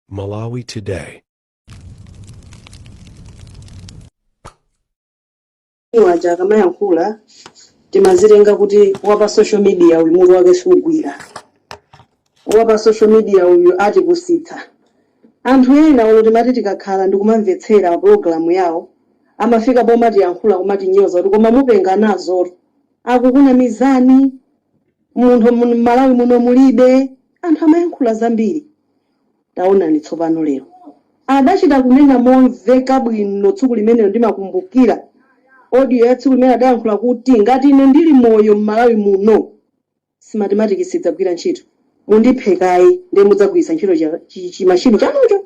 Malawi Today. uja akamayankhula timazitenga kuti wapa social media uyu mutu wake sugwira wapa social media uyu atipusitsa anthu ena omwe timati tikakhala ndikumamvetsera pa pulogalamu yawo amafika pomatiyankhula kumatinyoza kuti koma mupenga nazotu, akukunamizani munthu m'malawi muno mulibe anthu amayankhula zambiri taonani tsopano lero adachita kunena momveka bwino tsiku limenelo ndimakumbukira audio ya tsiku limene adayankhula kuti ngati ine ndili moyo m'malawi muno Smartmatic sidzagwira ntchito mundiphe kaye ndiye mudzagwiritsa ntchito cha- chi- chimashini chanucho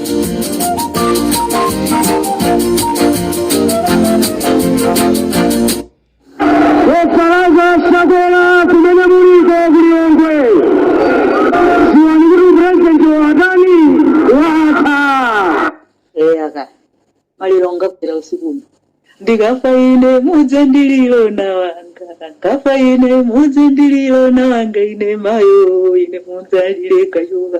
O Lazarus Chakwera kumene muliko kuliyongwe dziwani kuti upurezidenti wathawu watha eya ka maliro ngafera usiku uno ndikafa ine mudzandilire ana anga ndikafa ine mudzandilire ana anga ine mayo ine mudzalire kayoka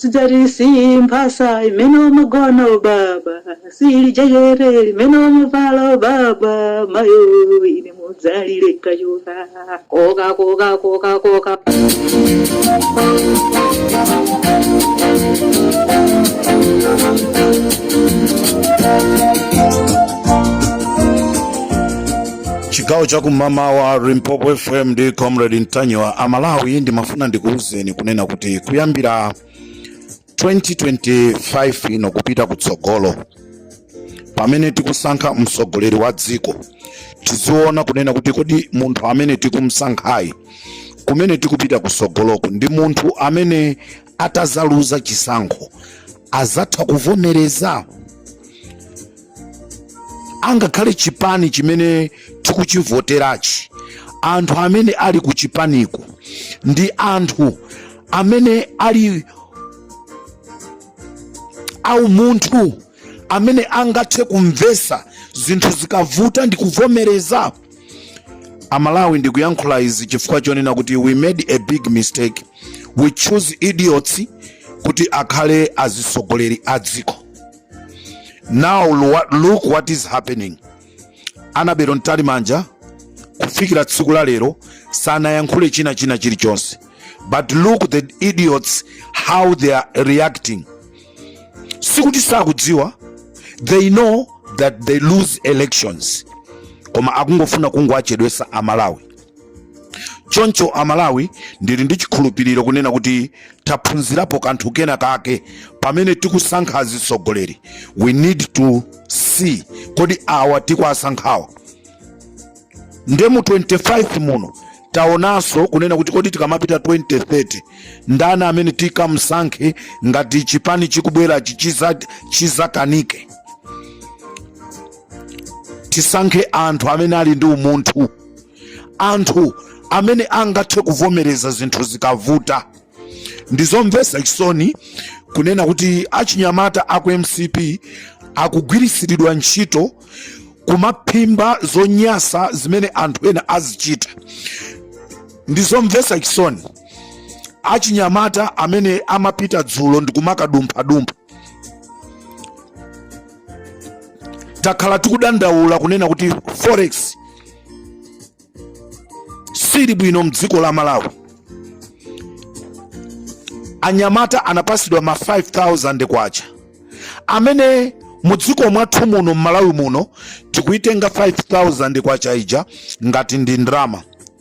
Sidzati si mphasa imene umagona ubaba, sili jekete limene umavala ubaba, mayo ine mudzalire kachoka koka koka koka koka. chigawo cha kumamawa limpopo fm ndi comrade ntanyiwa amalawi ndimafuna ndikuwuzeni kunena kuti kuyambira 2025 ino kupita kutsogolo pamene tikusankha mtsogoleri wa dziko tiziona kunena kuti kodi munthu amene tikumsankhayi kumene tikupita kutsogoloku ndi munthu amene atazaluza chisankho azatha kuvomereza angakhale chipani chimene tikuchivoterachi anthu amene ali ku chipaniko ndi anthu amene ali aumunthu amene angathe kumvesa zinthu zikavuta ndi kuvomereza amalawi ndikuyankhula izi chifukwa chonena kuti we made a big mistake we choose idiots kuti akhale azisogoleri a dziko now look what is happening Annabel Mtalimanja kufikira tsiku la lero sanayankhule china china chilichonse but look the idiots how they are reacting sikuti sakudziwa they know that they lose elections koma akungofuna kungowachedwetsa amalawi choncho amalawi ndili ndi chikhulupiriro kunena kuti taphunzirapo kanthu kena kake pamene tikusankha azitsogoleri we need to see kodi awa tikuwasankhawa nde mu 25 muno taonanso kunena kuti kodi tikamapita 2030 ndani amene tikamsankhe ngati chipani chikubwerachi chizakanike tisankhe anthu amene ali ndi umunthu anthu amene angathe kuvomereza zinthu zikavuta ndizomvesa chisoni kunena kuti achinyamata aku mcp akugwiritsiridwa ntchito kumaphimba zonyasa zimene anthu ena azichita ndizomvesa chisoni achinyamata amene amapita dzulo ndikumakadumphadumpha takhala tikudandaula kunena kuti forex sili bwino mdziko la malawi anyamata anapasidwa ma 5000 kwacha imene mudziko mwathu muno mmalawi muno tikuitenga 5000 kwacha ija ngati ndi ndrama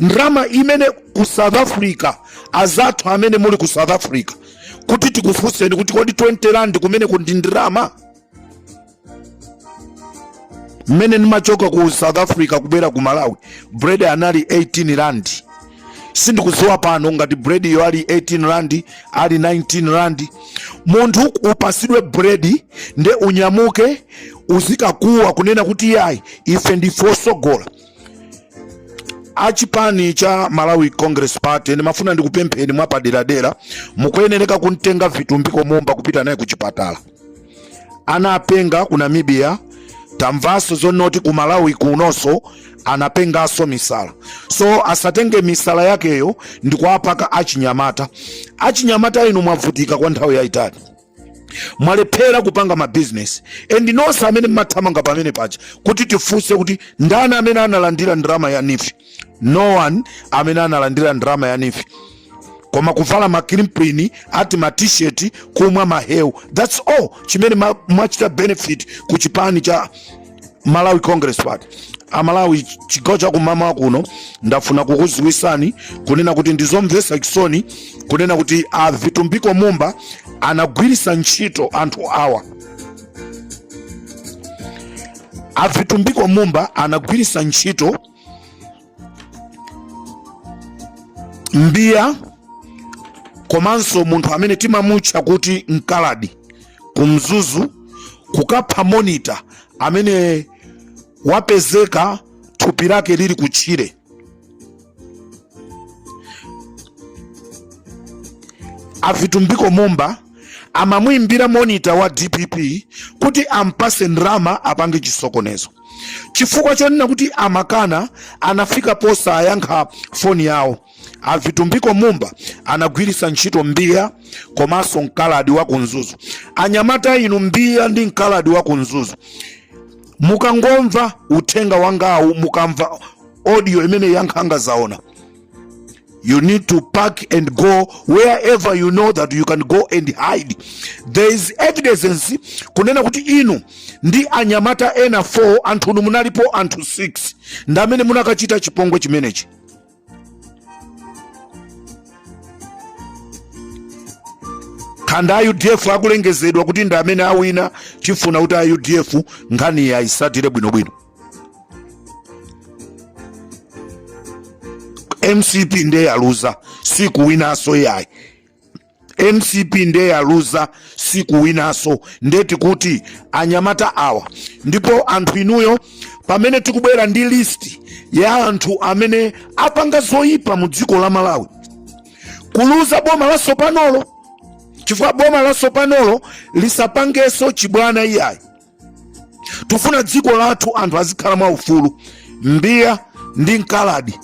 ndrama imene ku south africa azathu amene muli ku south africa kuti tikufunseni kuti kodi 20 rand kumeneko ndi ndrama mmene ndimachoka ku south africa kubwera ku malawi bread anali 18 rand sindikuziwa pano ngati bread yo ali 18 rand ali 19 rand munthu upasidwe bread nde unyamuke uzikakuwa kunena kuti yayi ife ndife osogola achipani cha malawi congress party ndimafuna ndikupempheni mwapaderadera mukuyenereka kumtenga vitumbiko mumba kupita naye kuchipatala anapenga ku namibia tamvaso zonnoti ku malawi kunoso anapengaso misala so asatenge misala yakeyo ndikuwapaka achinyamata achinyamata inu mwavutika kwa nthawi yayitali mwalephera kupanga mabizinesi and nonse amene mmathamanga pamene paja kuti tifunse kuti ndani amene analandira ndalama ya nifi no one amene analandira ndalama ya neef koma kuvala makrimprini ati matisheti kumwa mahewu thats all chimene mwachita benefit ku chipani cha malawi congress party amalawi chigawo cha kummawa kuno ndafuna kukuziwisani kunena kuti ndizomvesa chisoni kunena kuti a vitumbiko mumba anagwirisa ntchito anthu awa a vitumbiko mumba anagwirisa ntchito mbiya komanso munthu amene timamutcha kuti mkaladi ku mzuzu kukapha monita amene wapezeka thupi lake lili kutchire a Vitumbiko mumba amamuimbira monita wa dpp kuti ampase ndalama apange chisokonezo Chifukwa chonena kuti amakana, anafika posayankha foni yawo. A Vitumbiko Mumba anagwiritsa ntchito mbiya komanso mkaladi wa ku Mzuzu. Anyamata inu, mbiya ndi mkaladi wa ku Mzuzu, mukangomva uthenga wangawu, mukamva audio imeneyi ya nkhanga zaona, You need to pack and go wherever you know that you can go and hide. There is evidence kunena kuti inu ndi anyamata ena 4 anthu unu munalipo anthu 6 ndi amene munakachita chipongwe chimenechi. kaya ndi a udf akulengezedwa kuti ndi amene awina tifuna kuti a udf nkhaniyi aisatire bwinobwino mcp ndiye yaluza sikuwinaso yayi mcp ndiye yaluza sikuwinaso ndiye tikuti anyamata awa ndipo anthu inuyo pamene tikubwera ndi listi ya anthu amene apanga zoyipa mu dziko la malawi kuliuza boma lasopanolo chifukwa boma lasopanolo lisapangeso chibwana iyayi tufuna dziko lathu anthu azikhala mwa ufulu mbiya ndi mkaladi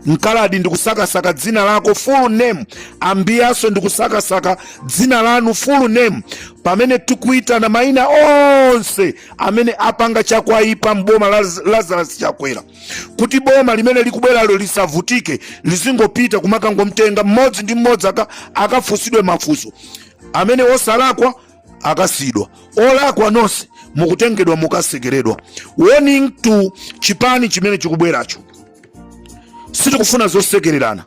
mkaladi ndikusakasaka dzina lako full name a mbiyaso ndikusakasaka dzina lanu full name pamene tikuitana maina onse amene apanga zakwaipa mboma la lazarus chakwera kuti boma limene likubweralo lisavutike lizingopita kumakangomtenga mmodzi ndi mmodzi akafusidwe mafuso amene osalakwa akasiidwa olakwa nonse mukutengedwa mukatsekeredwa warning to chipani chimene chikubweracho sitikufuna zosekererana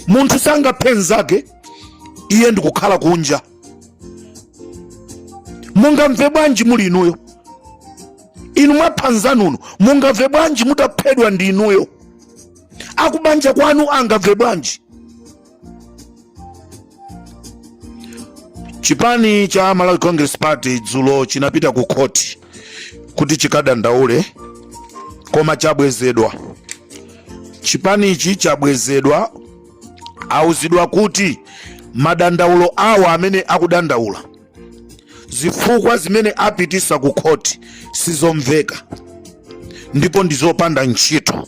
munthu sangaphe mnzake iye ndikukhala kunja mungamve bwanji muli inuyo inu mwapha mnzanu no mungamve bwanji mutaphedwa ndi inuyo akubanja kwanu angamve bwanji chipani cha malawi congress party dzulo chinapita ku khoti kuti chikadandaule koma chabwezedwa chipanichi chabwezedwa auzidwa kuti madandaulo awo amene akudandaula zifukwa zimene apitisa ku khoti sizomveka ndipo ndizopanda ntchito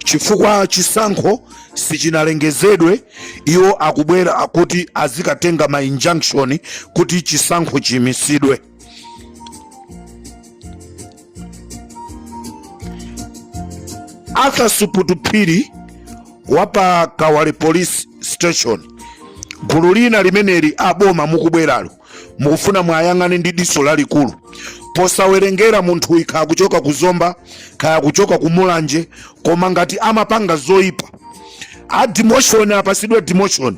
chifukwa chisankho sichinalengezedwe iwo akubwera kuti azikatenga ma injunction kuti chisankho chiyimisidwe arthur suputu phiri wa pa kawale police station gulu lina limeneli aboma mukubweralo mukufuna mwayang'ane ndi diso lalikulu posawerengera munthu kaya akuchoka ku zomba kaya kuchoka ku mulanje koma ngati amapanga zoyipa a demotion apasidwe demotion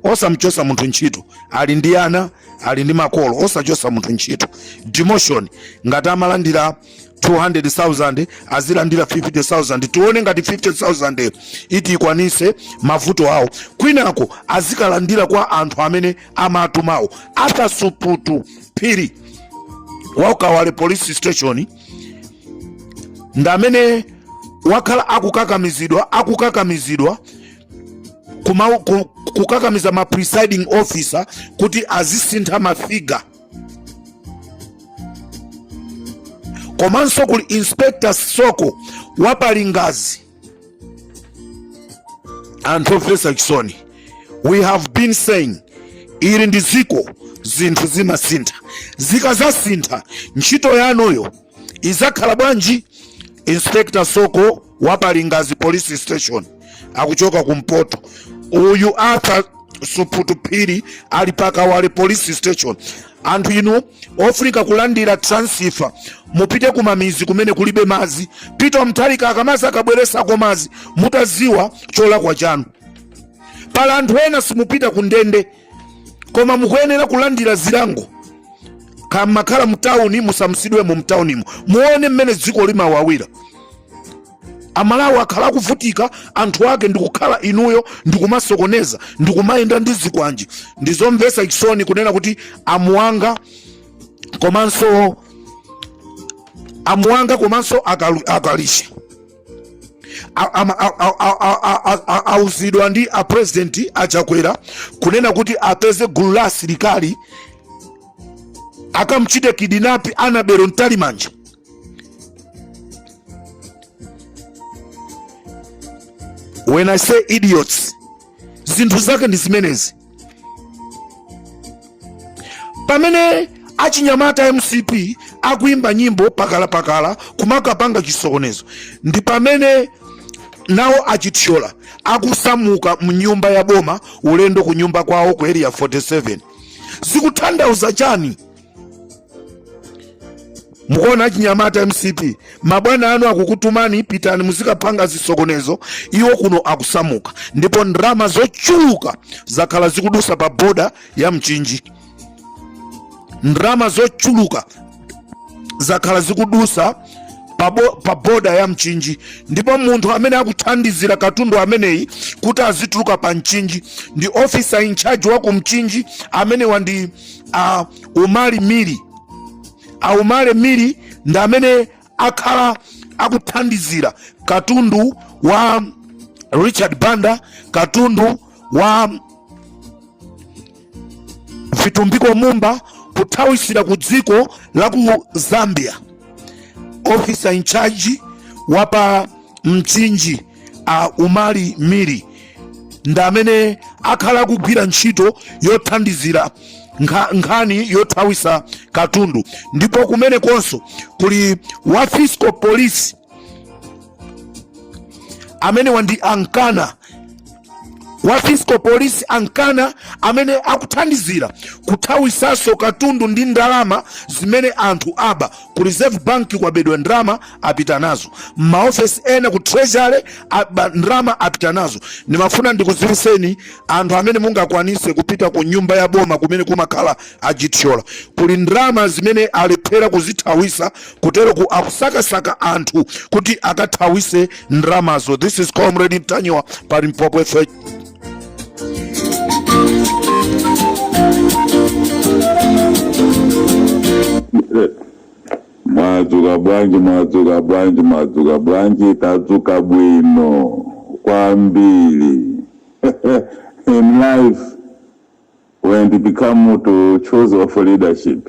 osamchosa munthu ntchito ali ndi ana ali ndi makolo osamchosa munthu ntchito demotion ngati amalandira 200,000 azilandira 50,000 tione ngati 50,000 iti ikwanise mavuto awo kwinako azikalandira kwa anthu amene amatumawo arthur suputu phiri waukawale police station ndamene wakhala akukakamizidwa akukakamizidwa kuma ku- kukakamiza ma presiding officer kuti azisintha mafiga komanso kuli inspector soko wa pa lingadzi anthu omvesa chisoni we have been saying ili ndi dziko zinthu zimasintha zikazasintha ntchito yanuyo izakhala bwanji inspector soko wa pa lingadzi police station akuchoka kumpoto uyu arthur suputu phiri ali pakawale police station anthu inu ofunika kulandira transfer mupite kumamizi kumene kulibe mazi apita mtalika akamazi akabweresako mazi mukaziwe cholakwa chanu pala anthu ena simupita kundende koma mukuyenera kulandira zilango kaya mmakhala mtawuni musamusidwemo mtawunimo muone mmene dziko limawawira amalawi akhala akuvutika anthu ake ndikukhala inuyo ndikumasokoneza ndikumayenda ndi zikwanje ndizomvesa chisoni kunena kuti amuwanga komanso amuwanga komanso akalisha auzidwa ndi a president achakwera kunena kuti apeze gulu la asilikali akamchite kidnap annabel mtalimanja when i say idiots zinthu zake ndi zimenezi pamene achinyamata mcp akuimba nyimbo pakalapakala kumakapanga chisokonezo ndi pamene nawo a chithyola akusamuka mnyumba ya boma ulendo ku nyumba kwawo ku area 47 zikuthandauza chani mukuona achinyamata mcp mabwana anu akukutumani pitani muzikapanga zisokonezo iwo kuno akusamuka ndipo ndalama zochuluka zakhala zikudusa pa boda ya mchinji ndalama zochuluka zakhala zikudusa pa, bo, pa boda ya mchinji ndipo munthu amene akuthandizira katundu ameneyi kuti azituluka pa mchinji ndi officer in charge wa ku mchinji amenewa ndi a umali miri a umali miri ndi amene akhala akuthandizira katundu wa richard banda katundu wa vitumbiko mumba kuthawisira ku dziko la ku zambia officer in charge wa pa mchinji a umali miri ndi amene akhala akugwira ntchito yothandizira nkha- nkhani yothawisa katundu ndipo kumene konso kuli wa fiscal police amenewa ndi a nkana wa fiscal police a nkana amene akuthandizira kuthawisaso katundu ndi ndalama zimene anthu aba ku reserve bank kwabedwa ndrama apita nazo mmaofesi ena ku treasury ndrama apita nazo ndimafuna ndikudziwiseni anthu amene mungakwanise kupita ku nyumba ya boma kumene kumakhala a chithyola kuli ndrama zimene alephera kuzithawisa kuteroku akusakasaka anthu kuti akathawise ndramazo this is comrade ntanyiwa pa limpopo fm mwadzuka bwanji mwadzuka bwanji mwadzuka bwanji tadzuka bwino kwambiri in life when it become to choose of leadership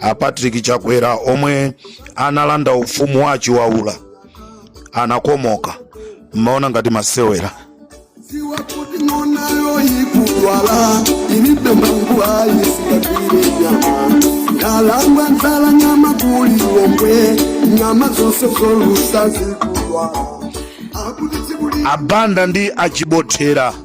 a patrick chakwera omwe analanda ufumu wa a chiwaula anakomoka mmaona ngati masewera Siwa kuti ng'ona yoyikudwala ilibe mangu ayisikapire nyama ndalangwa nzala nyama kuli lomwe nyama zonse zolusa zikudwala akuti zikuli a banda ndi achibothera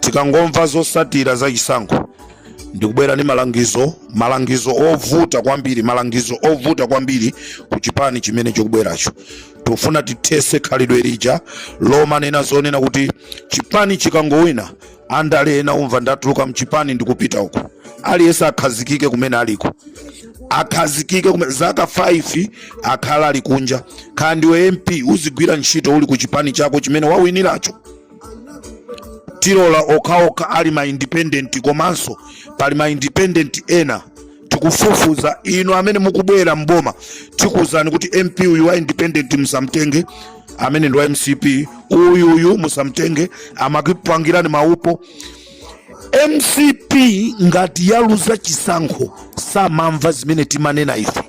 tikangomva zosatira za chisankho ndikubwera ndi malangizo malangizo ovuta kwambiri malangizo ovuta kwambiri ku chipani chimene chikubweracho tufuna tithese khalidwe lija lomanena zonena kuti chipani chikangowina andale ena umva ndatuluka mchipani ndikupita uko aliyense akhazikike kumene aliko akhazikike zaka 5 akhala ali kunja khala ndiwe mp uzigwira ntchito uli ku chipani chako chimene wawiniracho tilola okhaokha ali ma independent komanso pali ma independent ena tikufufuza inu amene mukubwera mboma tikuuzani kuti mp uyu wa independent musamtenge amene ndi wa mcp uyuyu musamtenge amakupangirani maupo mcp ngati yaluza chisankho samamva zimene timanena ife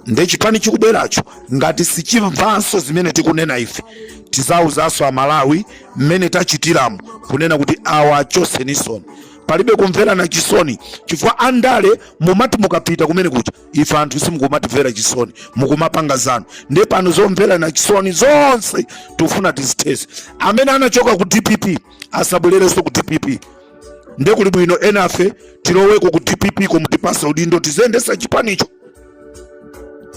nde chipani chikubweracho ngati sichimvanso zimene tikunena ife tizauzanso amalawi mmene tachitiramu kunena kuti awa achotseninsoni palibe kumverana chisoni chifukwa andale mumati mukapita kumene kuja ife anthu simukumatimvera chisoni mukumapanga zanu ndiye pano zomverana chisoni zonse tufuna tizithese amene anachoka ku dpp asabwererenso ku dpp ndiye kuli bwino enafe tiloweko ku dpp komutipatsa udindo tiziyendesa chipanicho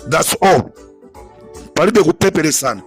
thats all palibe kupepetsana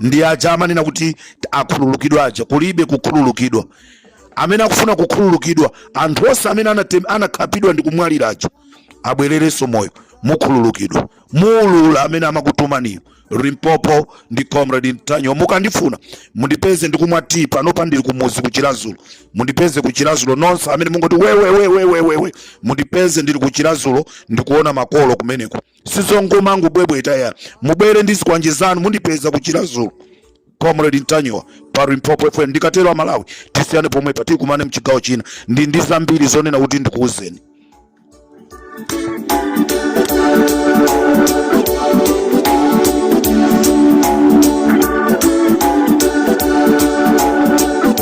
ndi aja amanena kuti akhululukidwa aja kulibe kukhululukidwa amene akufuna kukhululukidwa anthu onse amene anakhapidwa ndi kumwalira aja abwererenso moyo mukhululukidwa muulula amene amakutumaniyo limpopo ndi comrade ntanyiwa mukandifuna mundipeze ndikumwa tea panopa ndili kumudzi kuchiradzulu mundipeze kuchiradzulu nonse amene mungoti wewewewewewewe mundipeze ndili kuchiradzulu ndikuona makolo kumeneko sizomangobwebweta iya mubwere ndi zikwanje zanu mundipeza kuchiradzulu comrade ntanyiwa pa limpopo fm ndikatero amalawi tisiyane pomwepa tikumane mchigawo china ndili ndi zambiri zonena kuti ndikuuzeni